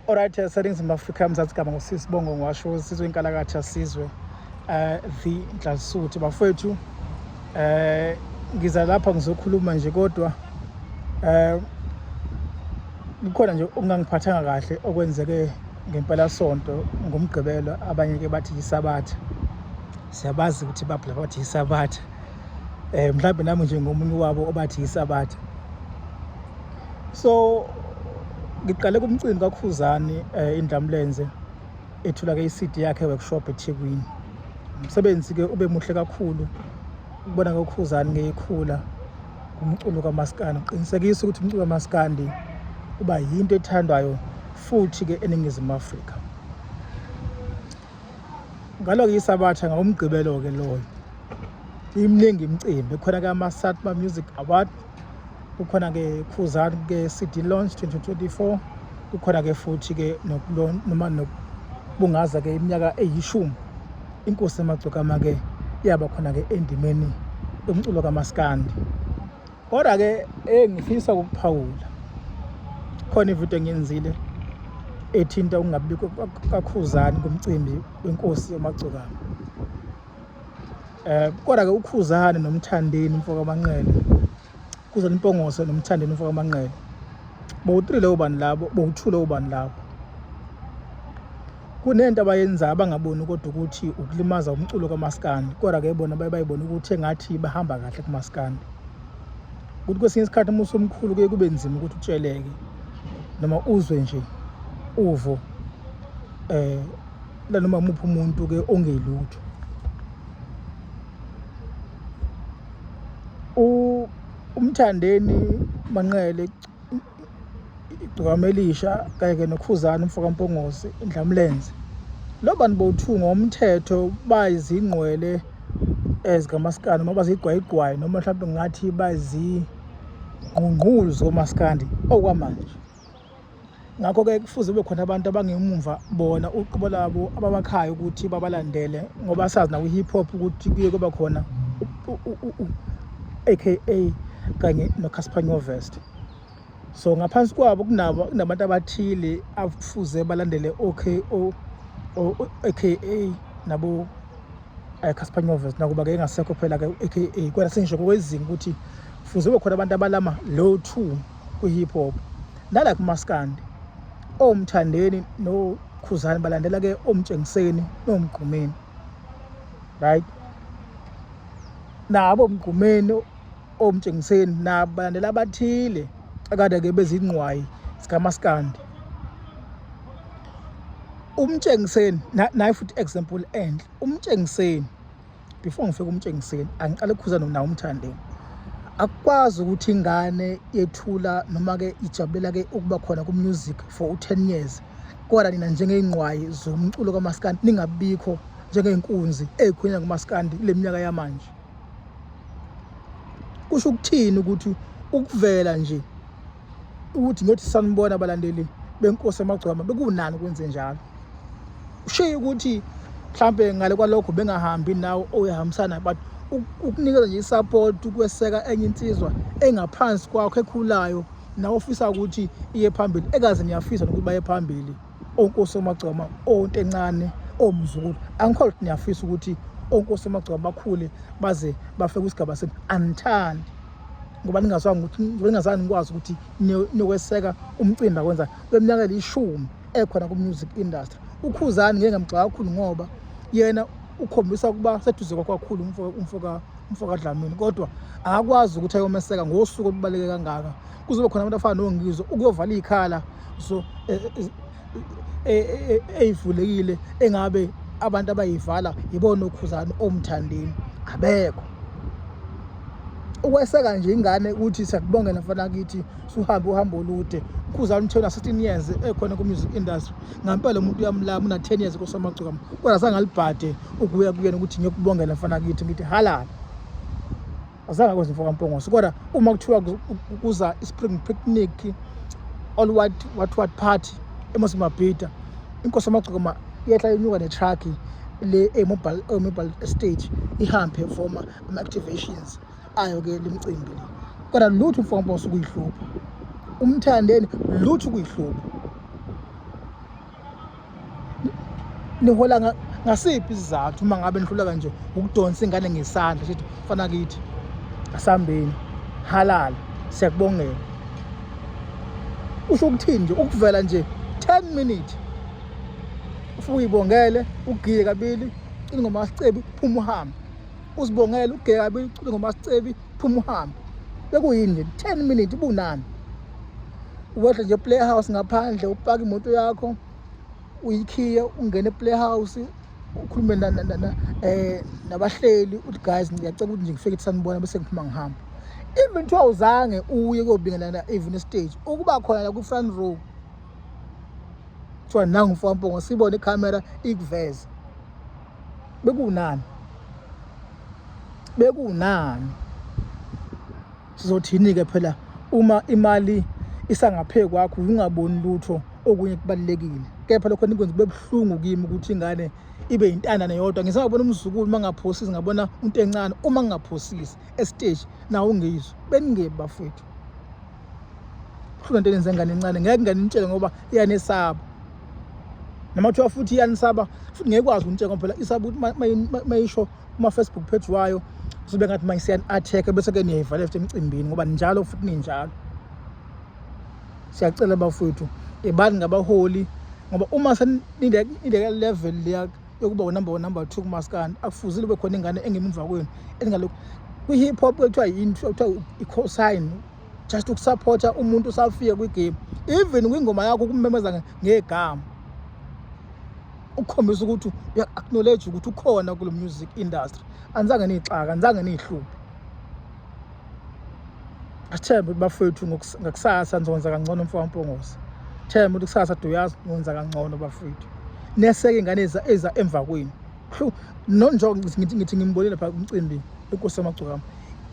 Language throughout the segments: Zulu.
Alright, uh, seningizimu Afrika emzansi gama ngosisi bongo ngiwasho sizwe inkalakatha sizwe uh, the nhlalisuthi bafowethu uh, ngiza lapha ngizokhuluma nje kodwa um kukhona nje okungangiphathanga kahle okwenzeke ngempelasonto ngomgqibelo abanye-ke bathi yisabatha siyabazi ukuthi babhla bathi yisabatha eh mhlawumbe nami nje ngomunye wabo obathi isabatha so ngiqale kumcimbi kaKhuzani eh, indlamlenze ethula ke iCD yakhe workshop eThekwini umsebenzi ke ube muhle kakhulu ukubona ngoKhuzani ngeyikhula kumculo kaMaskandi uqinisekisa ukuthi umculo kaMaskandi uba yinto ethandwayo futhi ke eningizimu Afrika ngalo ke isabatha ngawumgqibelo ke loyo imningi imcimbi khona ke ama-satma music award kukhona ke khuzan ke cd launch 2024 kukhona ke futhi ke noma nokubungaza ke iminyaka eyishumi inkosi emagcokama ke yaba khona ke endimeni yomculo kamaskandi kodwa ke eh ngifisa ukuphawula khona ividiyo engiyenzile ethinta ukungabikho kakhuzani kumcimbi wenkosi yamagcokama eh kodwa ke ukhuzani nomthandeni mfoka amanqele kuzona impongose nomthandeni mfoka amanqele bowutrile ubani labo bowuthule ubani labo kunento abayenzayo abangaboni kodwa ukuthi ukulimaza umculo kamaskandi kodwa ke bona baye bayibona ukuthi engathi bahamba kahle kumaskandi ukuthi kwesinye isikhathi umusa omkhulu kuye kube nzima ukuthi utsheleke noma uzwe nje uvo eh lanoma umuphi umuntu ke ongelutho umthandeni manqele igcokama elisha kayeke nokhuzana umfoka mpongosi indlamlenze lo bantu bowu-two ngomthetho bayizingqwele ezikamaskandi noma zigwayigwayi noma mhlawumbe ngathi bazingqungqulu zomaskandi okwamanje ngakho-ke kufuze kube khona abantu abangemumva bona uqobo labo ababakhayo ukuthi babalandele ngoba sazi nakwi-hip hop ukuthi kuye kuba khona aka kanye nocaspar nyovest so ngaphansi kwabo kunabantu abathile akufuze balandele OKO AKA nabo Casper Nyovest nakuba ke engasekho phela ke AKA kwena sengisho kwezinga ukuthi fuze kube khona abantu abalama low two kwi hip hop nala kumaskandi omthandeni no khuzani balandela ke omtshengiseni nomgqumeni right nabo mgqumeni omtshengiseni nabalandela abathile akade ke bezingqwayi sikamaskandi umtshengiseni naye futhi example enhle umtshengiseni before ngifike umtshengiseni angiqale ukukhuza nawo umthandeni akukwazi ukuthi ingane yethula noma-ke ijabulela-ke ukuba khona ku-music for u-ten years kodwa nina njengey'nqwayi zomculo kamaskandi ningabikho njengey'nkunzi ey'khulunyela kumaskandi kule minyaka yamanje kusho ukuthini ukuthi ukuvela nje ukuthi ngiyothi sanibona abalandeli benkosi emagcwama bekunani kwenze njalo ushiye ukuthi mhlambe ngale kwalokho bengahambi nawo oyihambisana but ukunikeza nje isupport ukweseka enye insizwa engaphansi kwakho ekhulayo nawe ufisa ukuthi iye phambili ekaze niyafisa nokuthi baye phambili onkosi emagcwama onto encane omzukulu angikholwa ukuthi niyafisa ukuthi onkosi emagcwama bakhule baze bafike kwisigaba senu anithandi ngoba ningazwanga ukuthi ningazange nikwazi ukuthi niyokweseka umcimbi akwenza kule minyaka elishumi ekhona ku-music industry ukhuzani ngeke ngamgxaka kakhulu ngoba yena ukhombisa ukuba seduze kwakho kakhulu umfo kadlamini kodwa akakwazi ukuthi ayomeseka ngosuku olubaluleke kangaka kuzoba khona abantu afana nongizo ukuyovala iy'khala so eh, eh, eh, eyivulekile engabe abantu abayivala yibona okhuzana omthandeni abekho ukweseka nje ingane ukuthi siyakubongela mfana kithi suhambe uhambe olude khuzana umthweni na-16 years ekhona ku-music industry ngampela umuntu uyamlama una-10 years kosomagcukam kodwa sangalibhade ukuya kuyena ukuthi ngiyokubongela mfana kithi ngithi halala azange akwenze mfoka Mpongose kodwa uma kuthiwa kuza ispring picnic all what what what party eMosimabhida inkosi yamagcokoma iyehla inyuka netruck le emobile emobile stage ihambe forma ama activations ayo ke limcimbi le kodwa lutho mfoka Mpongose kuyihlupha umthandeni lutho kuyihlupha nihola ngasiphi isizathu uma ngabe nihluleka nje ukudonsa ingane ngesandla shithi fana kithi asambeni halala siyakubongela usho ukuthini nje ukuvela nje 10 minutes ufuke uyibongele ugiye kabili ingoma sicebi phuma uhambe uzibongele ugiye kabili ingoma sicebi phuma uhambe bekuyini nje 10 minutes ubunani uwehla nje playhouse ngaphandle upaka imoto yakho uyikhiye ungene playhouse ukhulume eh nabahleli uthi guys ngiyacela ukuthi nje ngifike sanibona bese ngiphuma ngihamba even kuthiwa uzange uye kuyobingelana even estage ukuba khona la ku-front row kuthiwa nangu mfowampongo sibone ikhamera ikuveze bekuwunani bekuwunani sizothini-ke phela uma imali isangaphe kwakho ungaboni lutho okunye kubalulekile kepha lokho nikwenza kube buhlungu kimi ukuthi ingane ibe yintandane yodwa ngisangabona umzukulu uma ngaphosisi ngabona into encane uma ngingaphosisi esiteji nawo ungizwa beningebe bafowethu Khona into engenza ngane encane ngeke ngane nitshele ngoba iyanesaba. Noma kuthiwa futhi iyanisaba futhi ngeke kwazi ukunitshela ngoba phela isaba ukuthi mayisho kuma Facebook page wayo kuzobe ngathi mayisiyan attack bese ke niyayivala futhi emcimbini ngoba njalo futhi ninjalo. Siyacela bafowethu ebani ngabaholi ngoba uma senindeke level leya yokuba unumber one number two kumaskandi akufuzile ube khona ingane engemumva kwenu elingalokhu kwi-hip hop kuthiwa yini kuthiwa i-cosign just ukusapotha umuntu usafike kwigame even kwingoma yakho ukumemeza ngegama ukukhombisa ukuthi uya-acknowledge ukuthi ukhona kulo music industry anizange niyixaka anizange niyihluphe asithembe ukuthi bafowethu ngakusasa nizokwenza kangcono mfo wampongose thembe ukuthi kusasa duyazi nizokwenza kangcono bafowethu neseke ingane eza eza emva kwenu nonjoko ngithi ngithi ngimbonile pha kumcimbi inkosi yamagcokama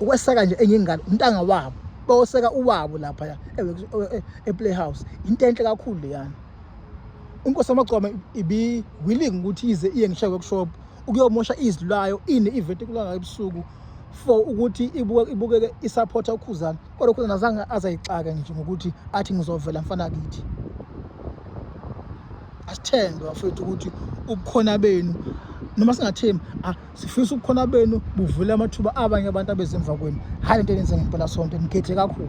ukweseka nje enye ingane umntanga wabo bawoseka uwabo lapha e, e, e-playhouse into enhle kakhulu leyana inkosi yamagcokama ibi-willing ukuthi ize iye ngishaye workshop ukuyomosha izwi layo ini ivete kulanga ebusuku for ukuthi ibukeke isaphotha ukhuzana kodwa ukhuzana azange azayixaka ngisho ngokuthi athi ngizovela mfana kithi asithembe bafethu ukuthi ubukhona benu noma singathembi ah, sifisa ubukhona benu buvule amathuba abanye abantu abezemva kwenu hhayi le nto yenze ngempela sonto ngigedle kakhulu